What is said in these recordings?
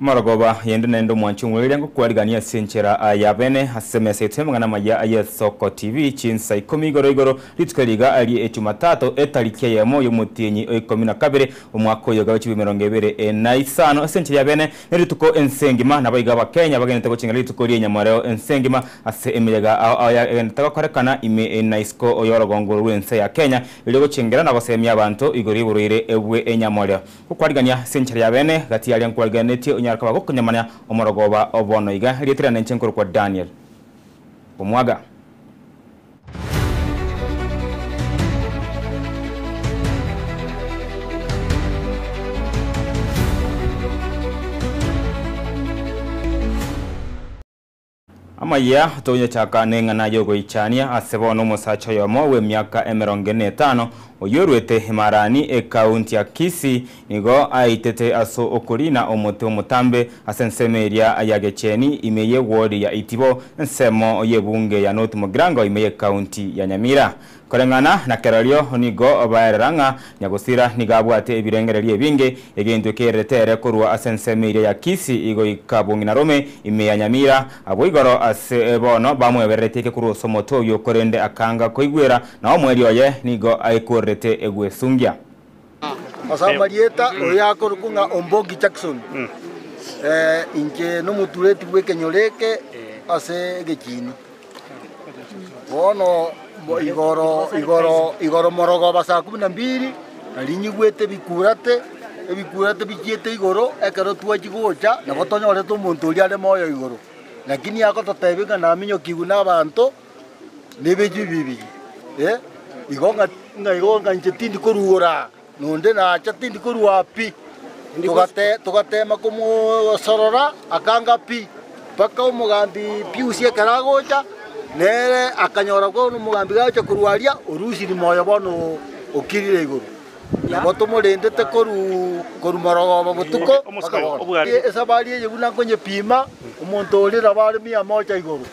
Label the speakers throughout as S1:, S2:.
S1: Amarogoba yende naende omwanche omweire ngokwarigania ase enchera y'abene ase emesa yaito y'amang'ana amaya aya Soko TV, chinsa ikomi igoro igoro, rituko eri iga rie Ejumatato, etariki eyemo y'omotienyi oikomi na kabere, omwaka oyoga w'echibui emerongo ebere na isano. Ase enchera y'abene nerituko ense engima, nabo iga Abakenya bagenete gochengera rituko rie nyamoreo ense engima ase emeyega ao ao yagenderete gokorekana ime na isiko y'orogongo rw'ense ya Kenya erio gochengera na gosemia abanto igoro y'oborwaire bw'enyamoreo. Gokwarigania ase enchera ya beene, gati aria nkwariganetie onyare koba gokonyamana omorogoba o bono iga, erieta riane inche nkorokwa Daniel. Omwaga. Amayia togoyachaka neng'ana yogoichania ase bono omosacha oyomo bw'emiaka emerongo ene netano, oyio oruete Imarani, ekaunti ya Kisii, nigo aitete ase okoriina omote omotambe ase ensemo eria ya Gecheni ime ye wodi ya Itibo, ensemo y'ebunge ya North Mugirango ime y'ekaunti ya Nyamira. Koreng'ana na kerorio nigo baerera ng'a nyagusira nigo abwate ebirengererio ebinge, egento ekererete ere korwa ase ensemo eria ya Kisi goika bong'ina Rome, ime ya Nyamira. Abwo igoro ase bono bamwebererete eke korwa ase omote oyio, korende akanga koigwera, na omwerio oye nigo aekorerete egwesungia. Ase
S2: amarieta oyo akorokwa ng'a Ombogi Jackson, inche nomotureti bw'ekenyoro eke ase egechiini. Bono igoro igoro igoro morogooba saa kumi na mbili narinyigwete ebikurate, ebikurate bichiete igoro ekero twachia gocha nabo tonyorete omonto oria are moyo igoro, lakini agototebia ng'a naminyokigwe nabaanto. nebichwi bibiri, igo ng'a igo ng'a inche tindi korugora, na onde nacha tindi korua pi. Togate- Togatema komosorora, akanga pi, mpaka omogambi Piusi ekero agocha, nere akanyora bono omogambi gacha korwa aria, orusiri moyo bono okirire igoro. Nabo tomorendete korwa morogooba botuko mpaka bono. Esabari eye buna nkonyepima, omonto oria nabo are mia mocha igoro.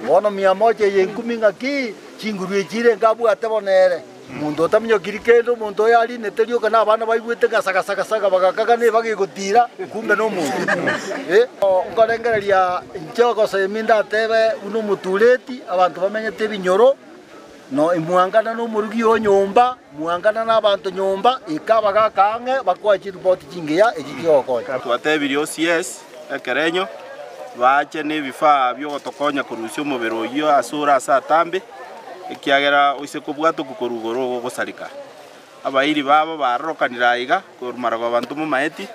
S2: Bono mia mocha eye enkumi ng'aki chinguru echi irenge abwate bo nere? Omonto otaminyokiri kende, omonto oyo arinete rioka, na abana baigwete ng'a sagasa gasaga, bagaaka ng'a nebaga egotiira, kumbe nomonto. Nkorengereria inche ogosemi ndatebe buna omotureti, abanto bamenyete ebinyoro. Mwaangana nomorogi o nyomba, mwaangana nabaanto nyomba, eka abagaaka ang'e bakoe chiripoti chingiya echi chigokonya. Twatebirie onsi
S3: yes ekerenyo, baache nebifaa biogotokonya korusia omobere oyio ase ore ase atambe, ekiagera oise kobwatokwa korwa igoro ogogosareka. Abairi babo baarorokanire aiga. Korumarogwe abanto momaeti,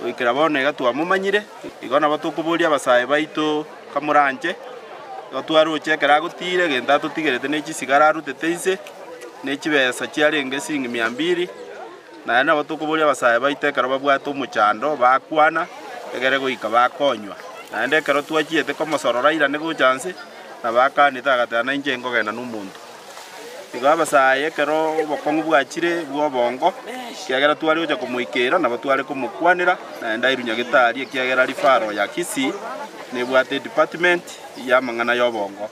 S3: goikera bono iga twamomanyire. Igo nabo tokoboria abasae baito, Kamoranche? Igo twaroche ekero agotiire, egento atotigerete ne chisigara arutete inse, ne chibesa chiarenge siringi mia mbiri. Naende nabo tokoboria abasae baito ekero babwate omochando bakwana, egere goika bakonywa. Naende ekero twachiete komosorora airane gocha inse, nabo akanete agateba, Nainche nkogenda nomonto. Igo abasae ekero obokong'u bwachire bw'obongo, ekiagera tware gocha komoikeera, nabo tware komokwanera, naende ndairunywa gitari, ekiagera aria Faro ya Kisii nebwate edepartment y'amang'ana y'obongo.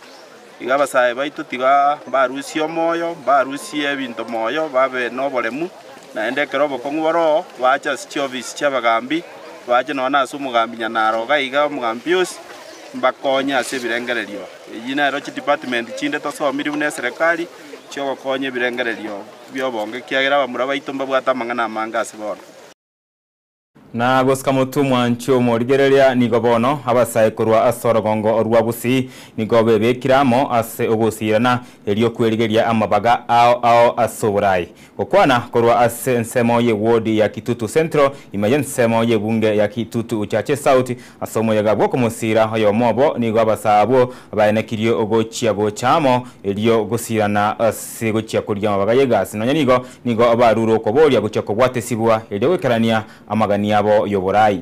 S3: Igo abasae baito tiga mbarusie omoyo, mbarusie ebinto moyo, babe noboremu, naende ekero obokong'u bore oo, baache ase chiofisi chi'abagambi, baache nonya na ase omogambi Nyanaro iga iga, omogambi Pius, mbakonye ase ebirengererio. Echi nero chidepartment chinde tosomirie buna eserekari, chi'ogokonya ebirengererio bi'obongo, ekiagera abamura baito mbabwate amang'ana amange ase bono.
S1: Na gosika motwe mwanchwe omorigereria, nigo bono abasae korwa ase orogongo rwa bosii nigo bebekire amo ase ogosiirana, erio kwerigeria amabaga ao ao ase oborai. Gokwana korwa ase ensemo ye wodi ya Kitutu Central ime y'ensemo y'ebunge ya Kitutu Uchache South ase omoyega bw'okomosiira oyomo obo nigo abasaa abwo baenekirie ogochia gocha amo erio gosiirana ase gochia koria amabaga y'egasi nonya nigo nigo barure okobooria gochia kobwatesibwa erio goikerania amagani abo y'oborai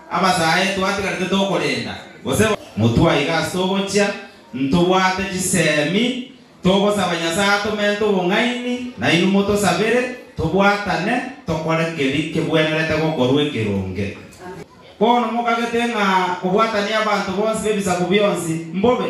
S4: Abasae twatigarete tokorenda, gose. Motwaiga ase ogochia, ntobwate chisemi, togosaba Nyasae atomente obong'aini, nainwe motosabere, tobwatane, tokore keria kebwenerete gokorwa ekeronge. Bono mokagete ng'a kobwatania abanto bonsi b'ebisaku bionsi mbobe?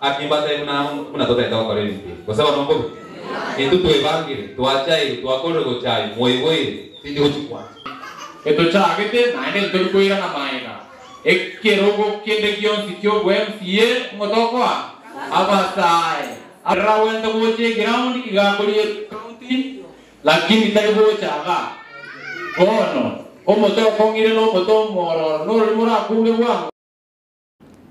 S5: Aki mbatebie buna amo buna totaete gokora ebinto ebi, gose bono mbobe? Intwe twebangire, twachaire, twakorire gocha aye, mwaigweire, tindi gochi kwancha. Etochagete, naende ntori koirana maega ekerogo kende gionsi ki'obwa MCA ng'o tokoa abasae abagwente gocha eground igakorigwe county lakini tari gocha iga. Bono, omote okong'ire nomote omwororo nororimo orakunge bwango.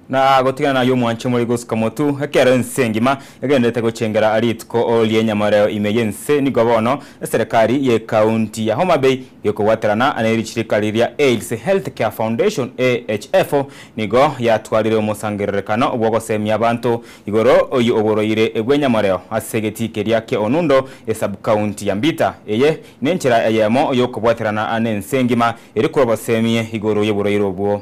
S5: na
S1: gotigana naye omwanche omorei gosuka motu, ekero ense engima egendererete gochengera rituko ri'enyamoreo ime y'ense, nigo bono eserekari y'ekaunti ya Homa Bay gokobwaterana ne richirika riria AIDS Health Care Foundation, AHF, nigo yatwarire omosangererekano bw'ogoseemia abanto igoro y'oborwaire bw'enyamoreo ase egetii keria kie Onundo esabkaunti ya Mbita. Eye nenchera eyemo y'okobwaterana nense engima ere korwa baseemie igoro y'oborwaire obwo.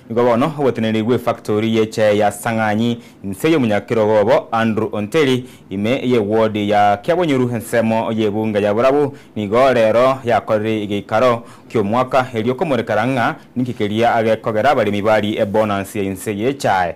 S1: Nigo bono ogotenenigwa efactori ye chai ya Sang'anyi inse y'omonyakerogo obo Andrew Onteri, ime y'ewodi ya Kiabonyoru ensemo y'ebunge ya Burabu nigo rero yakorire egeikaro ki'omwaka erio komoreka rang'a ninki keria agekogera abaremi bari ebonansi ya inse ye chai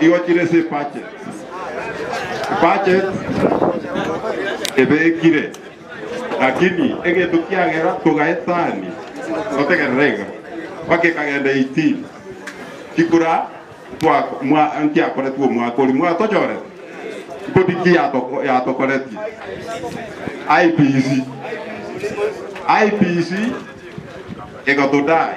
S6: Igo chire ase epache. Epache ebekire. Lakini egento kiagera togaetani totegerera iga. Mpaka ekagenda 18. Chikura twa mwa nkiakoretwe omwaka oria mwatochorete. Kodi ki yatoko yatokoretie? IPC. IPC egotodai.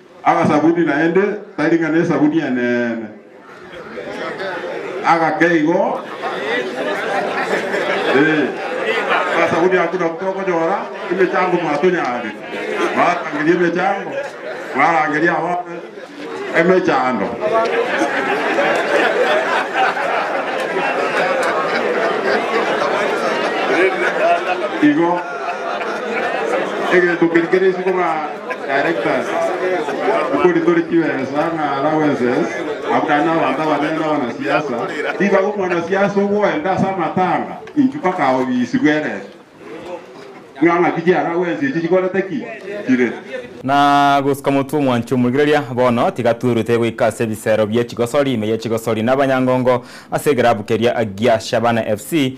S6: Agasabuni naende tari ng'a nesabuni eneene, agake igo, ee, agasabuni ako nako tokonyora emechango mwatonyaarete, mwarangeria emechango, mwarangeria abana emechando. Igo, egento keria kere isiko ng'a. Na
S1: gosuka motwe omwanche omorigereria, bono tiga twerute goika ase ebisero bie chigosori, ime ye chigosori na abanyangongo ase egerabu keria gia Shabana FC,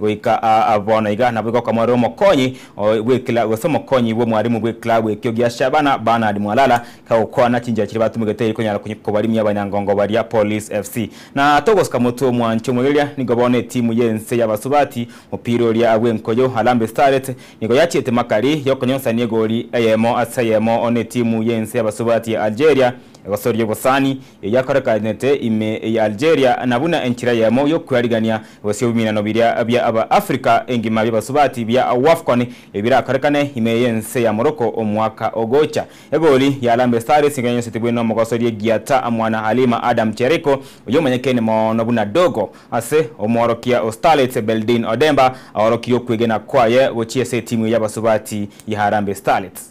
S1: Goika aa bono iga naboigo okamorera omokonyi oye bw'ekila gose omokonyi bw'omwarimu bw'ekila bw'ekio gia Shabana Bernard Mwalala kagokwana chinchera chiria batumegete eye konyara konya kobarimia abanyangongo baria Police FC. Na ata ogosika motwe omwancho omwegereria nigo bono etimu y'ense y'abasubati mopira oria bw'enkoyo Harambee Starlets nigo yachiete makari y'okonyonsania egori eyemo ase eyemo one etimu y'ense y'abasubati ya Algeria egosoria obosani eyakorekanete ime ya Algeria, na buna enchera eyemo y'okwerigania gose ebiminano biria bia aba Africa engima bi'abasubati bia Wafcon ebirakorekane ime y'ense ya Morocco omwaka ogocha. Egori ya Harambee Stars nigo yanyosetigwe n'omogosoria Giata mwana Halima Adam Cheriko, oyio omanyekene mono buna Dogo, ase omworokia o Starlets Beldin Odemba aorokirie okwegena kwaye gochia ase etimu eye y'abasubati ya Harambee Starlets.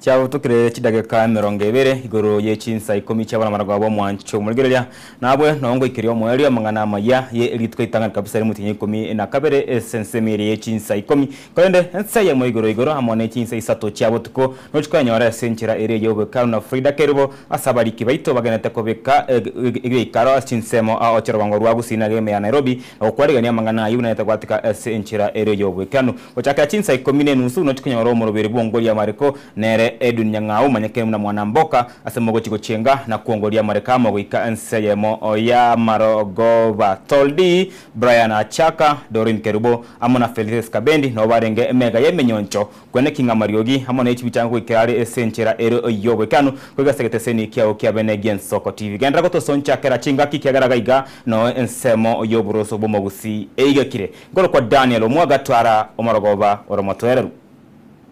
S7: Chiagotokeire
S1: chidageka emerongo ebere igoro ye chinsa ikomi chi'abamarako b'omwancho omorigereria, nabwe nao ngoikeria omoerio amang'ana amayia, ye erituko ritang'ani kabisa ri'omotienyi ikomi na kabere ase ensemo eye ye chinsa ikomi, Korende ense ye moigoro igoro amo ne chinse isato chia botuko nochi kwenyora ase enchera eria ya obwekaru na Frida Keribo ase abariki baito bagenete kobeka ebiaikaro ase chinsemo ao chirogongo rwa gusii na geme ya Nairobi na gokwarigania amang'ana ayio buna yatagoatika ase enchera eria ya obwekanu. Gochakera chinsa ikomi ne enusu nochi kwenyora omoroberi bw'ongoria amariko nere Edwin Nyang'au omanyekene buna Mwanamboka ase mogochi gochenga na kwongoria amariko amo goika ense yemo ya Marogoba Toldi Brian Achaka, Doreen Kerubo amo na Felices Kabendi nabo barenge emega y'emenyoncho kwene King'amariogi amo ne chibichanga goikera are ase enchera ere y'oboikeranu goika ase egeteseni kiao kia bene Gensoko TV. Genderera gotosoncha kera chingaki kiagera iga iga noe ensemo y'oboroso bw'omogusii eigekire nkorokwa Daniel omwaga Twara omorogoba ore omotoereru.